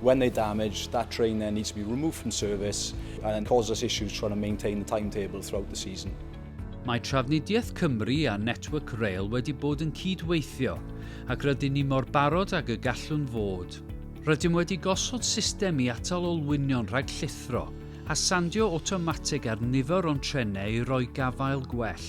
When they're damaged, that train then needs to be removed from service and cause us issues trying to maintain the timetable throughout the season. Mae Trafnidiaeth Cymru a Network Rail wedi bod yn cyd-weithio, ac rydyn ni mor barod ag y gallwn fod. Rydym wedi gosod system i atal olwynion rhag llithro, a sandio awtomatig ar nifer o'n trenau i roi gafael gwell.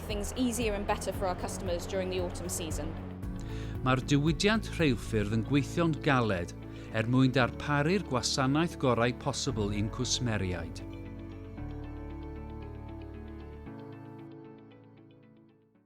things easier and better for our customers during the autumn season. Mae'r diwydiant rheilffyrdd yn gweithio'n galed er mwyn darparu'r gwasanaeth gorau posibl i'n cwsmeriaid.